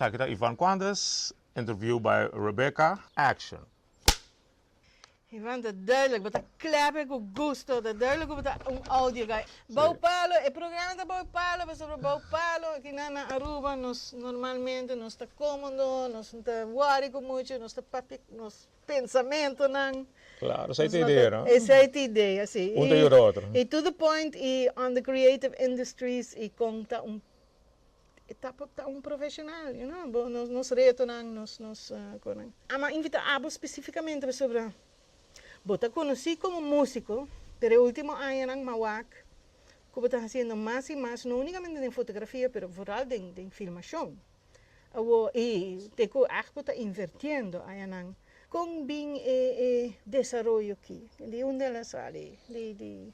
Sa aki ta Ivan Quandres, interview by Rebecca, action. Ivan ta duidelijk bo ta klèpè ku gusto ta duidelijk ku bo ta un audio guy bou palo e programa ta bou palo pasobra bou palo aki nan na Aruba nos normalmente nos ta komodo nos no ta wòri ku muchu nos ta papia nos pensamentonan. Claro, esei ta idea, no? Esei ta idea, si. Un ta yuda otro. I to the point i on the creative industries i kon ta un e ta por ta un profesional, you know, bo nos nos retonan, nos nos konan. Amo a invita abo specificamente pasobra bo ta conoci como musico, pero e ultimo añanan mawak cu bo ta haciendo mas y mas, no unicamente den fotografia pero vooral den den filmacion. Awo e te ku akpo ta invertiendo ayanan kon bin e e desaroyo ki? Di unda el a sali? Di di.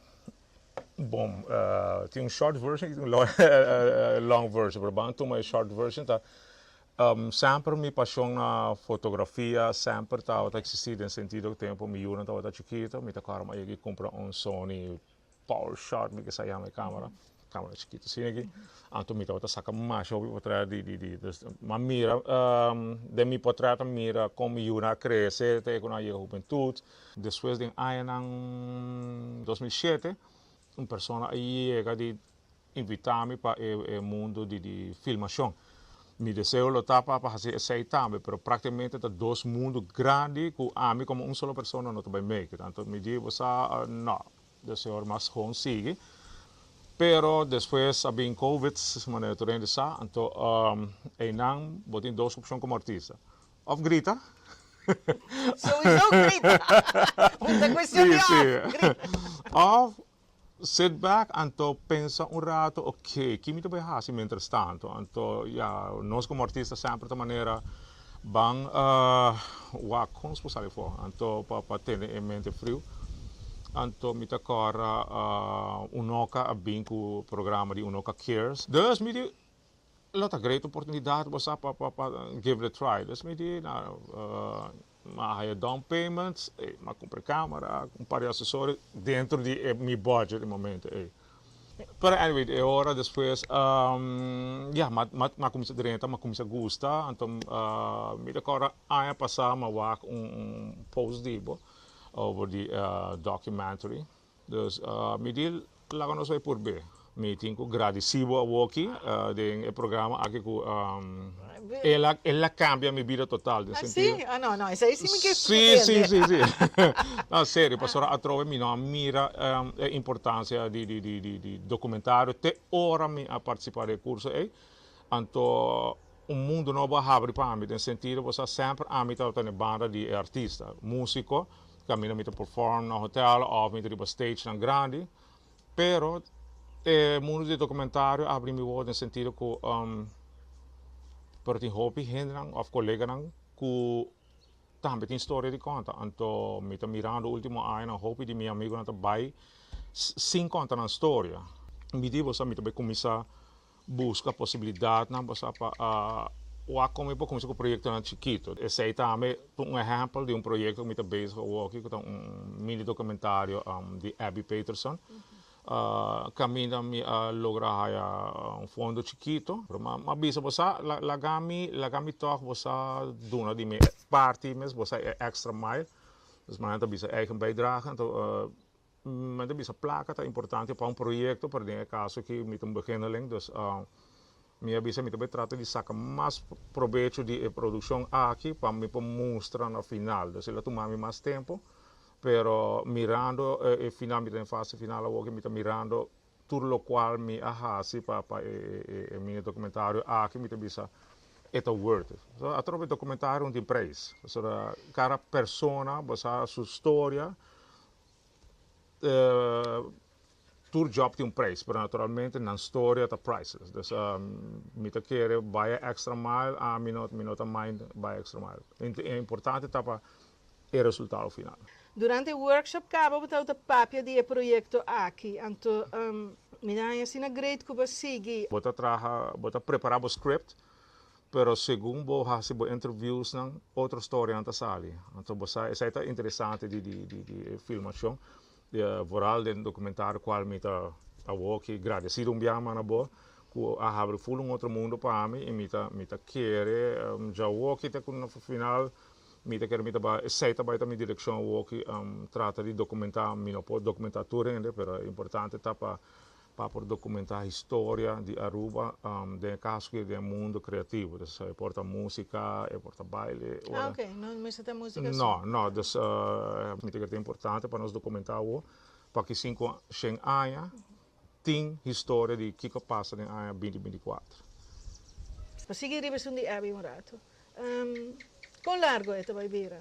Bon tin un short version y tin un long version pero ban a tuma e short version ta semper mi pashon na fotografia semper tabata existi den sentido ku tempo mi yunan tabata chukito mi ta kòrda mi a yega y kumpra un Sony. Paul Short mi ke sa yama e camera camera chikito asina aki anto mi tabata saka masha hopi potret di di di ma mira den mi potret a mira kon mi yunan a krese te ku nan a yega hubentut despues den añanan dos mil shete un persona a yega di invita mi pa e e mundo di di filmashon mi deseo lo ta pa pa hasi esei tambe pero prakticamente ta dos mundo grandi ku ami komo un solo persona no ta bai make it anto mi di bo sa no de señor mas hon sigui pero despues a bin covid manera tur hende sa anto einan bo tin dos opshon komo artista of grita Souizo grita un ta kuestion di of grita of Sit back anto pensa un rato ok ki mi ta bai hasi mientras tanto anto ya nos como artista semper ta manera ban wak con nos por sali for anto pa pa tene e mente frio anto mi ta cora un oca a bin cu programa di un oca cares dus mi di Lo ta great oportunidat bo sa pa pa give it a try. This mi di na mi a haya down payments ey mi a cumpra e camera un par di accesorios dentro di e mi budget e momento ey. Pero anyway e ora despues ya mi a cuminsa drenta mi a cuminsa gusta anto mi ta corda aña pasa mi a wak un post di bo over di documentary. Dus, mi di laga nos bai purbe. Mi tin ku gradisí bo awoki den e programa aki ku el a kambia mi bida total den sentido. Así? No, no, esei sí mi ke prende. Sí, sí, sí, sí. No, serio, pasobra atrobe mi no a mira e importansia di dokumentario te ora mi a partisipá den e kurso ei. Anto Un mundu nobo a habri pa ami den sentido bo sa semper ami tabata na e banda di e artista, musiko, kaminda mi ta perform na hotel of mi ta riba stagenan grandi. Pero e mundu di e dokumentario a habri mi wou den sentido ku pero tin hopi hendenan of koleganan ku tambe tin storia di konta. Anto mi ta mirando ultimo añanan hopi di mi amigunan ta bai sin konta nan storia. Mi di bo sa mi ta bai kuminsá Buska posibilidatnan pa sa pa wak kon mi por kuminsá ku proyektonan chikitu. Esei tambe ta un ehèmpel di un proyekto ku mi ta bezig awoki ku ta un mini dokumentario di Abby Peterson. Kaminda mi a logra haya un fondo chikitu. Mi a bisa bo sa, laga mi laga mi tòg bo sa duna di mi parti mes, bo sa e extra mile. Nos mannan ta bisa eigen bijdrage. Mi ta bisa plaka ta importante pa un proyekto pero den e kaso aki mi ta un beginneling dus mi a bisa mi ta por trata di saka mas probecho di e produkshon aki pa mi por mustra na final dus el a tuma mi mas tempu pero mirando e final mi ta den fase final awor aki mi ta mirando tur lokual mi a hasi pa e mini dokumentario aki mi ta bisa e ta worth it so atrò e dokumentario no tin preis pasobra kada persona bo sa su storia tur job tin un prijs pero naturalmente nan storia ta priceless dus mi ta kere bai e extra mile a mi no mi no ta mind bai e extra mile e importante ta pa e resultado final. Durante e workshop kaba bo tabata papia di e proyekto aki anto mi ta haña asina great ku bo a sigui. Bo ta traha bo ta prepara bo script Pero segun bo hasi bo interviewsnan otro storianan ta sali. Anto bo sa esai ta interesante di di di di e filmashon vooral den documentario cual mi ta awor aki gradecido un biaha mas na bo cu a habri full un otro mundo pa ami y mi ta mi ta kere dja awor aki te cu na final mi ta kere mi ta bay esai ta bay ta mi direccion awor aki trata di documenta mi no por documenta tur hende pero importante ta pa pa por dokumentá historia di Aruba den e kaso aki den e mundo kreativo. Dus e por ta músika, e por ta baile. Ah, ok. No mester ta músika su. No, no. Dus mi ta kere ta importante pa nos dokumentá awo pa kisin ku shen aña tin historia di kiko a pasa den aña binti binti kuater. Pa sigui riba esun di Abby un ratu. Kon largu e ta bai bira?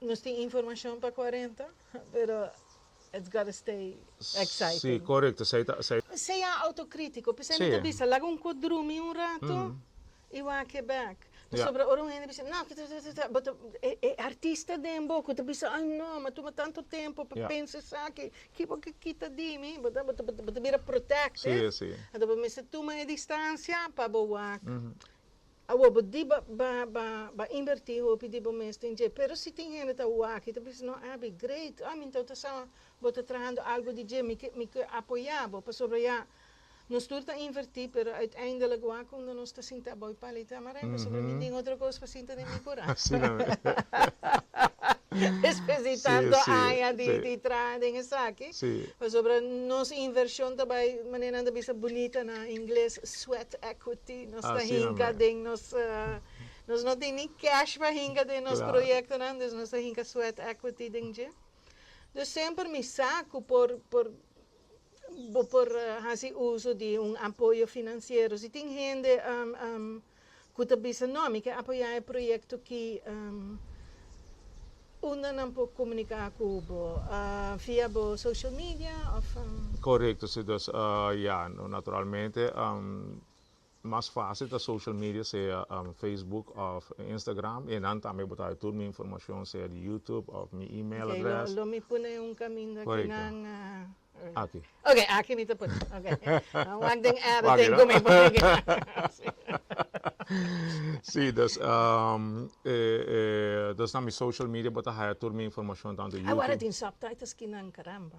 Nos tin informacion pa cuarenta pero it's gotta stay exciting. Si, corecto. Esey ta, esey. Sea autocritico. P'esey mi ta bisa, laga un cu drumi un rato y wake back. Pasobra ora un hende bisa, no, ta, bo ta, e artista den bo cu ta bisa, ay no, m'a tuma tanto tempo pa pensa esaki, ki bo ke kita di mi? Bo ta, bo ta, bo ta bira protective. Anto bo mester tuma e distancia pa bo wak. Awor bo di bo ba invertí hopi di bo mes den dje, pero si tin hende ta ua aki ta bisa, No, Abby, great, oh, mi nta ta sa bo ta trahando algu di dje, mi ke mi ke apoyá bo. Pasobra nos tur ta invertí, pero uiteindelik ua kunda nos ta sinta abou e pala i ta amará, pasobra mi tin otro kos pa sinta den mi kurason. Despues di tantu aña di traha den esaki, pasobra nos invershon ta bai, manera nan ta bisa bunita na ingles, sweat equity, Nos ta hinka den nos, nos no tin ni cash pa hinka den nos proyectonan, dus nos ta hinka sweat equity den dje. Dus semper mi sa cu por, por, bo por haci uso di un apoyo financiero. Si tin hende cu ta bisa no, mi ke apoya e proyecto aki, unda nan por comunica cu bo? via bo social media of? Corecto, si. Dus, ya, no, naturalmente Mas fásil ta social media sea Facebook òf Instagram i nan tambe bo ta haña tur mi informashon sea di YouTube òf mi email adrès. Oke, lo mi pone un kaminda ku nan Aki. Oke, aki mi ta pone. Oke. Nan wak den editing ku mi pone aki nan. Sí, dus na mi social media bo ta haña tur mi informashon tantu YouTube. Awor a tin subtitles kinan, caramba.